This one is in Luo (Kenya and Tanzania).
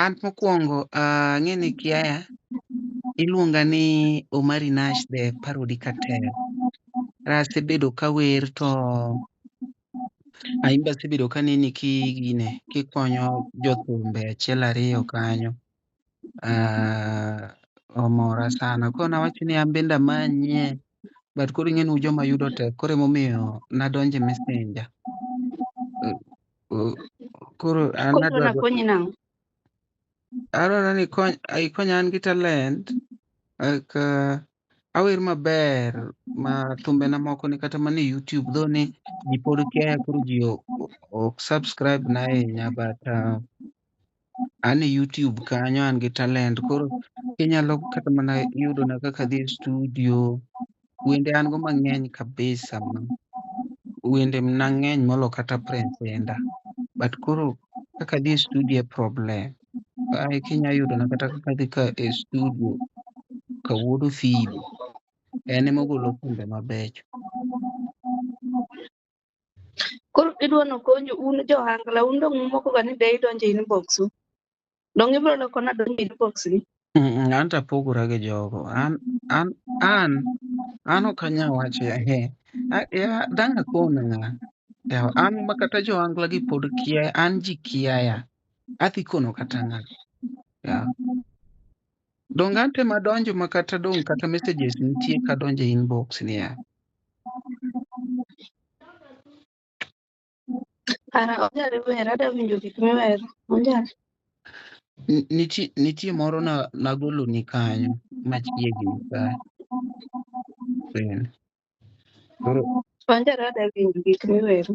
An mokwongo ah, ang'e ni kiaya iluonga ni Omari Nash the Parody Cartel. Asebedo ka wer to aimbe asebedo ka neni ki gine kikonyo jothumbe achiel ariyo kanyo. Ah, omora sana. Koro nawacho ni an bende amanye but koro ing'e ni un joma yudo tek koro emomiyo nadonje messenger. koro an Koro adwa nakonyi nang'o? adwaro ni ikony ikony an gi talent like uh, awer maber ma thumbena moko ni kata mana e youtube dho ni ji pod kia koro ji o- o- ok subscribe na ahinya but uh, an e YouTube kanyo an gi talent koro inyalo kata mana yudo na kaka dhi e studio. Wende an go mang'eny kabisa ma wende na ng'eny molo kata Prince Indah. But koro kaka dhi e studio e problem. Ai kinya yudo na kata kaka dhi ka e studio ka wuod Ofilo. En emogolo thumbe mabecho. Koro idwa nokonyu un jo ohangla, un dong' umokoga ni de idonjo e inbox u. Dong' ibiro loko nadonjo e inbox ni? Mm, An to apogora gi jogo. An an an an ok anyal wacho ya he. A- ya- Dang' akon ng'a. Ya- An ma kata jo angla gi pod kia, an ji kiaya. Adhi kono kata ng'a. Ya. Donge ante madonjo ma kata dong' kata messages nitie kadonjo e inbox niya. Ara onyalo wer, ada winjo gik miwero. Onyalo. N- Nitie, nitie moro na, nagolo ni kanyo machiegni ka friend. Koro Onyalo ada winjo gik miwero.